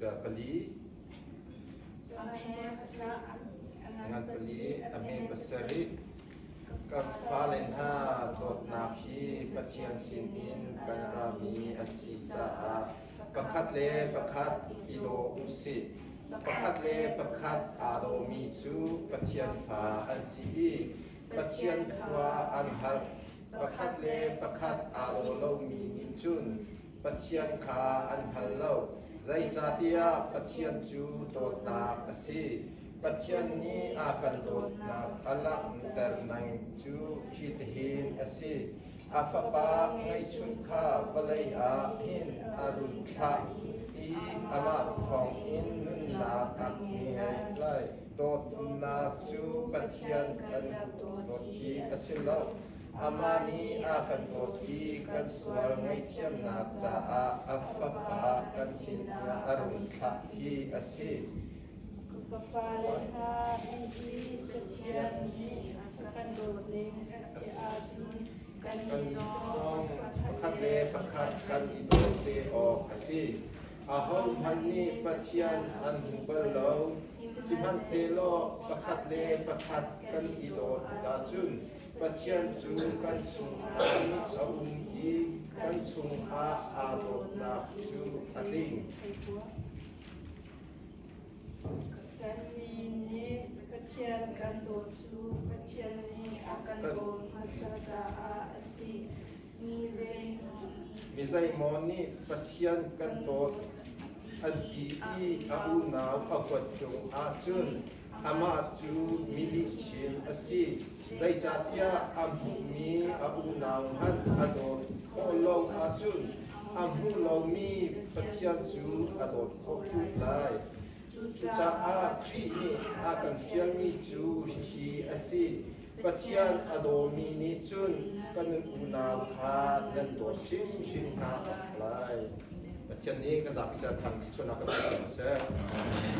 Dar pali. Ngan pali a hme pasarih. Kan fale hna dawtnak hi Pathian sin in kan rami a si caah pakhat le pakhat i daw u sih. Pakhat le pakhat aa dawmi cu Pathian fa an si i Pathian khua an har. Pakhat le pakhat aa daw lomi nih cun Pathian kha an hngal lo, zeicahtiah Pathian cu dawtnak a si. Pathian nih a kan dawtnak a langhter ning cu hitihin a si: a Fapa ngeihchun kha vawlei ah hin a run thlah i amah thawngin nunnak a ngeih lai. Dawtnak cu Pathian kan dawt hi a si lo. Amah nih a kan dawt i kan sual ngaihthiamnak caah a fapa kan sin ah a run thlah hi a si. Ka fale hna, hihi Pathian nih a kan dawt ning a si ahcun kan zong pakhat le pakhat kan i daw ve awk a si. Ahohmanh nih Pathian an hmu bal lo, sihmanhsehlaw pakhat le pakhat kan i dawt ahcun Pathian cu kan chungah a um i kan chungah aa dawtnak cu a ling. Kannih nih Pathian kan dawt cu Pathian nih a kan dawt hmasa caah a si. Mi zeimaw nih Pathian kan dawt an ti i a unau a kuat ṭung ahcun amah cu milihchim a si. Zeicahtiah a hmuhmi a unau hmanh a dawt khawh lo ahcun a hmu lomi Pathian cu a dawt khawh khun lai. Cucaah Khrih nih a kan fialmi cu hihi a si. Pathian a dawmi nih cun kan unau kha nan dawt hrimhrim hna lai. Pathian nih ka zapi cu an thang dih sualnak kan tuah a seh.